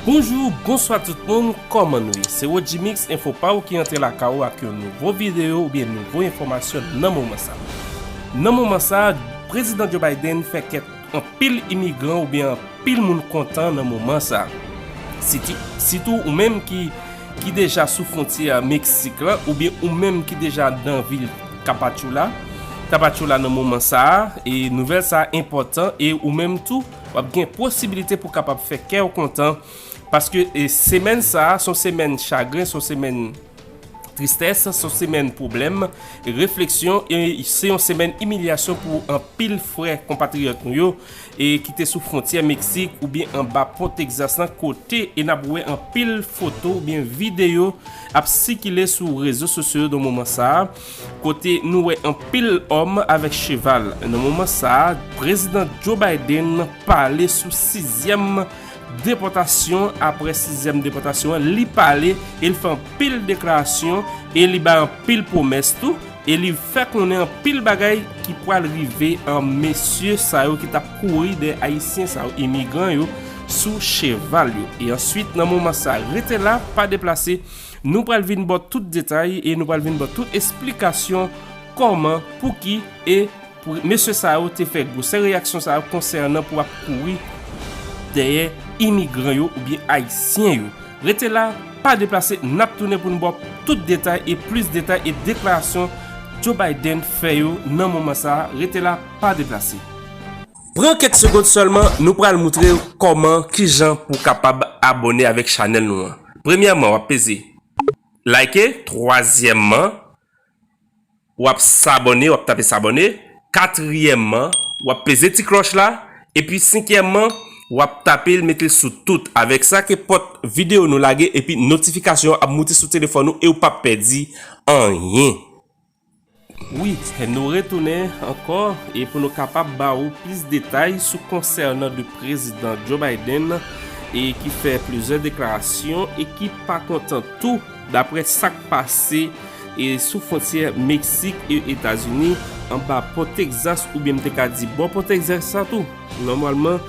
Bonjou, bonswa tout moun, kòman nou ye? Se Rodjimix, enfo pa ou ki antre lakay ou ak yon nouvo videyo oubyen nouvo enfòmasyon nan moman sa. Nan moman sa, Prezidan Joe Biden fè kèk. Anpil imigran oubyen anpil moun kontan nan moman sa. Sitou ou menm ki ki deja sou fwontyè a Meksik la oubyen ou menm ki deja nan vil Kapatchoula, Tapachula nan moman sa a, e nouvèl sa a enpòtan e ou menm tou w ap gen posibilite pou kapab fè kè w kontan paske semèn sa a son semèn chagren, son semèn. Tristès s on semèn pwoblèm, refleksyon e se yon semèn imilyasyon pou anpil frè konpatriyòt nou yo e ki te sou fwontyè Meksik oubyen anba pon Texas lan kote e n ap wè anpil foto oubyen videyo ap sikile sou rezo sosyo yo nan moman sa a kote nou wè anpil òm avèk cheval. Nan moman sa a, Prezidan Joe Biden pale sou sizyèm Depòtasyon apre sizyèm depòtasyon an li pale e li fè anpil deklarasyon e li bay anpil pwomès tou e li fè konnen anpil bagay ki pwal rive an mesye sa yo ki tap kouri dèyè ayisyen sa yo imigran yo sou cheval yo e answit nan moman sa rete la pa deplase nou pwal vin baw tout detay e nou pwal vin baw tout esplikasyon kòman pouki e Pou mesye sa yo te fè gwosè reyaksyon sa yo konsènan pou ap kouri dèyè imigran yo oubyen ayisyen yo. Rete la, pa deplase, n ap tounen pou n ba w tout detay e plis detay e deklarasyon Joe Biden fè yo nan moman sa a. Rete la, pa deplase. Pran kèk segond sèlman, nou pral moutre w kòman, kijan pou w kapab abòne avèk chanèl nou an. Premyèman, w ap peze Like, twazyèman, Wap sabòne, wap tape sabòne, katriyèmman wap peze ti klòch la, epi senkyèmman wap tapel metel sou tout, avèk sa ke pòt videyo nou lage epi notifikasyon ap moute sou telefòn ou ew pap pèdi anyen. Wi, nou retounen ankò e pou nou kapab ba ou plis detay sou konsènan de prezidan Joe Biden e ki fè plizyè deklarasyon e ki pa kontan tou. Daprè sa k pase sou fwontyè Meksik e Etazini, anba Pò Texas oubyen m te ka di bò Pò Texas la tou, nòmalman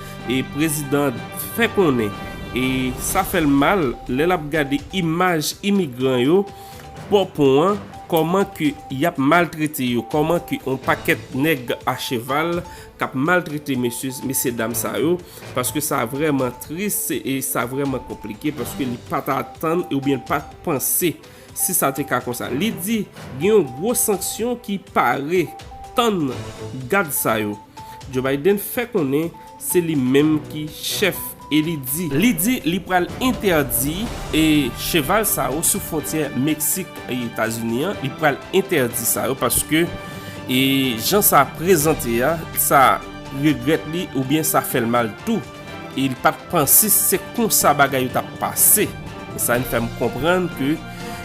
prezidan fè konnen e sa fè l mal lè l ap gade imaj imigran yo bò pon an, kòman ke y ap maltrete yo, kòman ke yon pakèt nèg a cheval. kap maltrete mesye mesye dam sa yo paske sa vrèman tris e sa vrèman konplike paske li pa ta atann ou byen pa t panse si sa te ka konsa li di gen yon gwo sanksyon ki pare tann gad sa yo Joe Biden fè konnen se li menm ki chèf E li di. Li di li pral entèdi e cheval sa yo sou fwontyè Meksik e Etazini an, li pral entèdi sa yo paske e jan sa prezante a, sa regrèt li oubyen sa fè l mal tou. E li pa t panse se konsa bagay yo t ap pase. E sa vin fè m konprann ke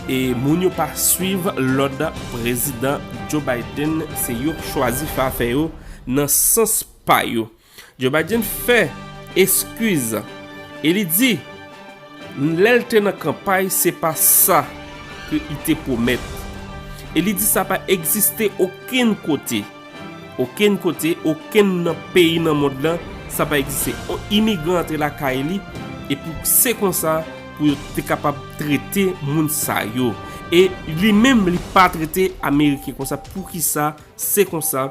e moun yo pa swiv lòd Prezidan Joe Biden, se yo k chwazi fè afè yo nan sans pa yo. Joe Biden fè eskiz e li di lè l te nan kanpay se pa sa ke li te pwomèt. E li di sa pa egziste okenn kote. Okenn kote, okenn nan peyi nan mond lan, sa pa egziste. On imigran antre lakay li e pou se konsa pou yo te kapab trete moun sa yo. E li menm li pa trete Ameriken konsa. Poukisa? Se konsa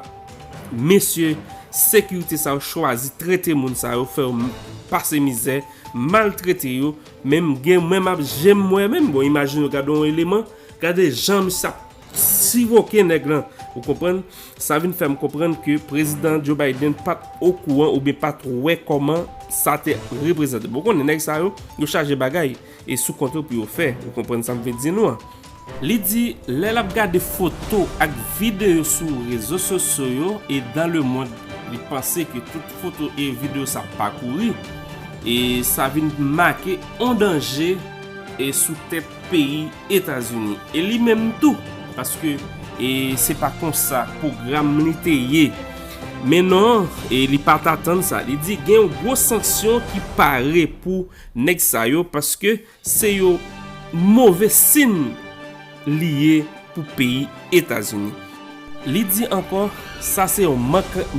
mesye sekirite sa yo chwazi trete moun sa yo fè yo pase mizè, maltrete yo, men m gen mwen m ap je m wè menm, bon imajine w gade yon eleman, gade jan misye ap siroke nèg lan, ou konprann, sa vin fè m konprann ke prezidan Joe Biden pa t okouran oubyen pa t wè kòman sa te reprezante, bon ou konnen nèg sa yo, yo chaje bagay. E sou kont yo pou yo fè. Ou konprann sa m vle di nou an. Li di, lè l ap gade foto ak videyo sou rezo sosyo yo e dan le mond, li panse ke tout foto e videyo sa pa kouri e sa vin make on danje e sou tèt peyi Etazini. E li menm tou, paske e se pa konsa pwogram li te ye. Men non, e li pa t atann sa. Li di, gen yon gwo sanksyon ki pare pou. Neg sa yo paske se yo move sin li ye pou peyi etazini. Li di ankò sa se yon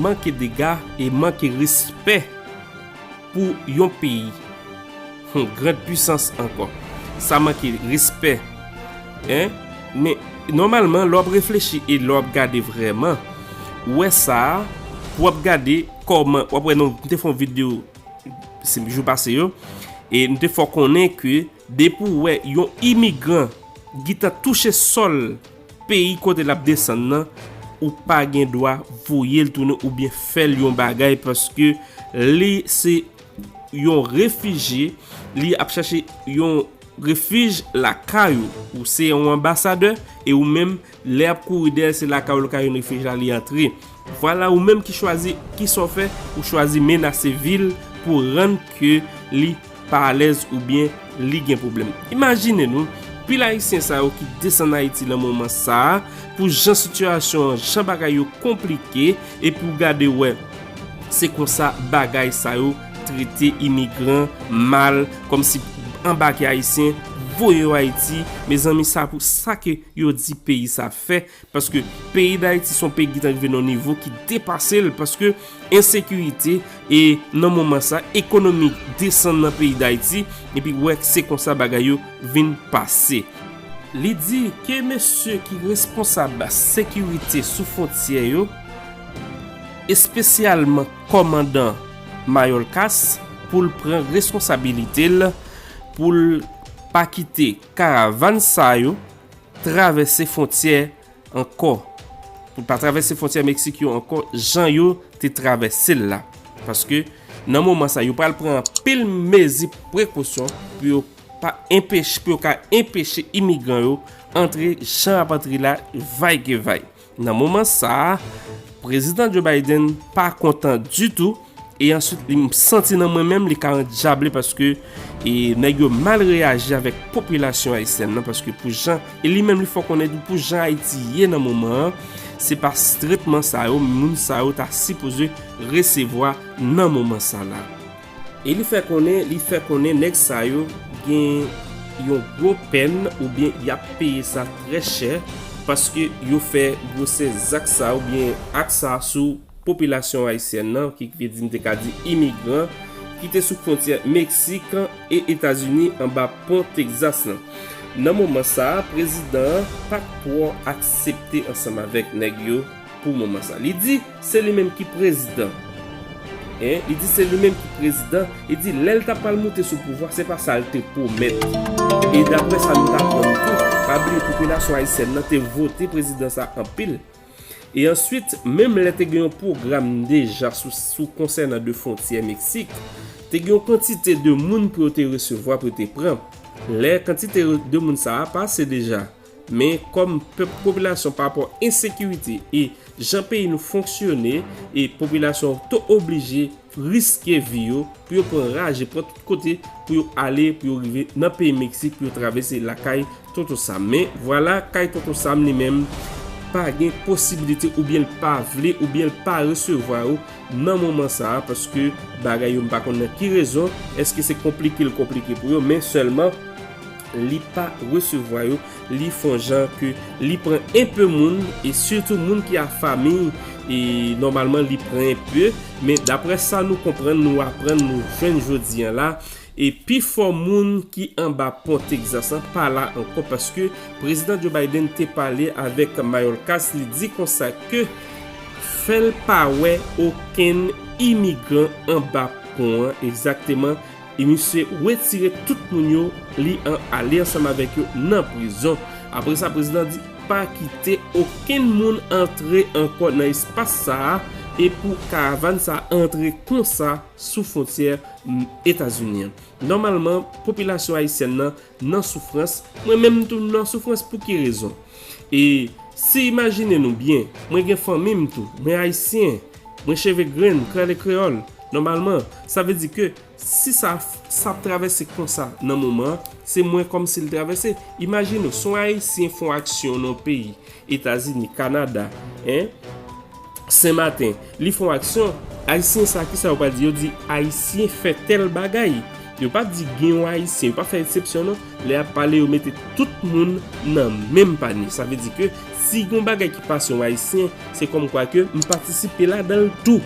manke dega e manke respè pou yon peyi yon grand pwisans ankò sa manke respè hein men nòmalman lè wap reflechi e lè wap gade vrèman ou wè sa pou wap gade kòman wap wè nou te fè yon video jou pase yo e nou te fè konnen ke depi ou wè yon imigran gita touche sol peyi kote lap desann nan ou pa gen dwa voye l tounen ou byen fè l yon bagay paske li se yon refije li ap chache yon refij lakay ou ou se yon ambasade e ou menm Lè yap kouri dèyè l se lakay ou l ka jwenn refij la li antre. Vwala ou menm ki chwazi kisa w fè ou chwazi menase vi l pou rann ke li pa alèz oubyen li gen pwoblèm. Imajine nou pil ayisyen sa yo ki desann Ayiti nan moman sa pou jan sitiyasyon an jan bagay yo konplike epi w gade wè se konsa bagay sa yo trete imigran mal kòmsi anbake ayisyen voye yo Ayiti mezanmi sa pou sa ke yo di peyi sa fè paske peyi dayiti son peyi ki tanrive non nivo ki depasel paske ensekirite e nan moman sa ekonomi desan nan peyi dayiti epi wè se konsa bagay yo vin pase li di ke mesye ki responsab sekirite sou fontyè yo espesyalman komandan mayolkas poul pran reskonsabilitel poul pa kite. Karavan sa yo travèse fontyè ankò. Pou pa travèse fontyè Meksik yo ankò jan yo te travèse l la. Paske nan moman sa yo pral pran anpil mezi prekosyon pou yo pa enpeche, pou yo ka enpeche imigran yo antre jan y ap antre la vay ke vay. Nan moman sa a, Prezidan Joe Biden pa kontan ditou, e answit li santi nan mwen menm li ka andyable paske e nèg yo mal reyaji avèk popilasyon ayisyèn nan paske pou jan, e li menm li fè konnen tou pou jan Ayiti ye nan moman an, se pa tretman sa yo moun sa yo ta sipoze resevwa nan moman sa la. E li fè konnen li fè konnen nèg sa yo gen yon gwo pèn oubyen y ap peye sa trè chè paske yo fè gwosè zak sa oubyen ak sa sou popilasyon ayisyèn nan ki vle di m te ka di imigran ki te sou fwontyè Meksik e Etazini anba pon Texas lan. Nan moman sa a prezidan an pa t twò aksepte ansanm avèk nèg yo pou moman sa. Li di. Se li menm ki prezidan. Hein li di se li menm ki prezidan, li di lèl ta pral moute sou pouvwa se pa sal te pwomèt. E daprè sa nou t aprann tou, pa bliye popilasyon ayisyèn nan te vote prezidan sa anpil. E answit menm lè te gen yon pwogram deja sou konsènan de fwontyè Meksik, te gen yon kantite de moun pou yo te resevwa pou yo te pran. Lè kantite de moun sa a pase deja. Men kòm pèp popilasyon pa rapò ensekirite e jan peyi nou fonksyone e popilasyon to oblije riske vi yo pou yo pran raje pran tout kote pou yo ale pou yo rive nan peyi Meksik pou yo travèse lakay Tonton Sam men vwala kay Tonton Sam li menm pa gen posibilite oubyen l pa vle oubyen l pa resevwa yo nan moman sa a paske bagay yo m pa konn nan ki rezon èske se konplike l konplike pou yo men sèlman. li pa resevwa yo li fon jan ke li pran enpe moun e sitou moun ki a famiy e nòmalman li pran enpe men daprè sa nou konprann nou aprann nou jwenn jodi an la e pi fò moun ki anba pon Texas lan pa la ankò paske prezidan Joe Biden te pale avèk Mayorkas li di konsa ke fèl pa wè okenn imigran anba pon an egzakteman E misye wetire tout moun yo li an ale ansanm avèk yo nan prizon. Apre sa prezidan an di pa kite okenn moun antre ankò nan espas sa a e pou karavan sa a antre konsa sou fwontyè Etazini an. Nòmalman popilasyon ayisyèn nan nan soufrans, mwen menm tou m nan soufrans pou ki rezon? E si imajine nou byen, mwen gen fanmi m tou, mwen ayisyen. Mwen cheve grenn, krale kreyòl. Nòmalman, sa vle di ke si sa sa ap travèse konsa nan moman an, se mwen kòm si l travèse. Imajine w, si yon Ayisyen fè yon aksyon nan yon peyi, Etazini, Kanada, en, Senmaten, li fè yon aksyon, Ayisyen sa, kisa yo pral di? Yo di, Ayisyen fè tèl bagay. Yo pa di gen yon Ayisyen, yo pa fè eksepsyon non. Lè yap pale yo mete tout moun nan menm panye sa vle di ke si gon bagay ki pase yon ayisyen se kòm kwa ke m patisipe ladanl tou.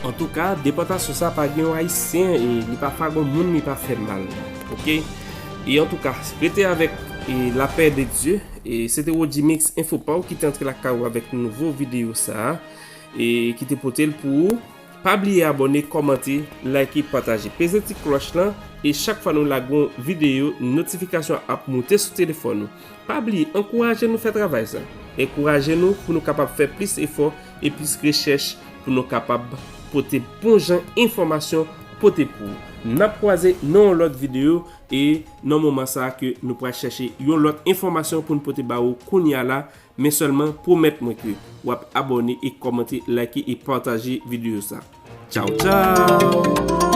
Antouka depòtasyon sa pa gen yon ayisyen e li pa fè gon moun li pa fè mal ok e antouka rete avèk e lapè de Dye e se te Rodjimix info paw ki te antre lakay ou avèk nouvo videyo sa e ki te potel pou ou. Pa bliye abòne kòmante like pataje peze ti klòch lan e chak fwa nou lage yon videyo notifikasyon ap moute sou telefòn ou pa bliye ankouraje nou fè travay sa enkouraje nou pou nou kapab fè plis efò e plis rechèch pou nou kapab pote bon jan enfòmasyon pote pou ou nap kwaze nan yon lòt videyo e nan moman sa ke nou pral chèche yon lòt enfòmasyon pou nou pote ba ou kounya la Men sèlman pwomèt mwen ke wap abòne e kòmante like e pataje video sa Tchaw tchaw.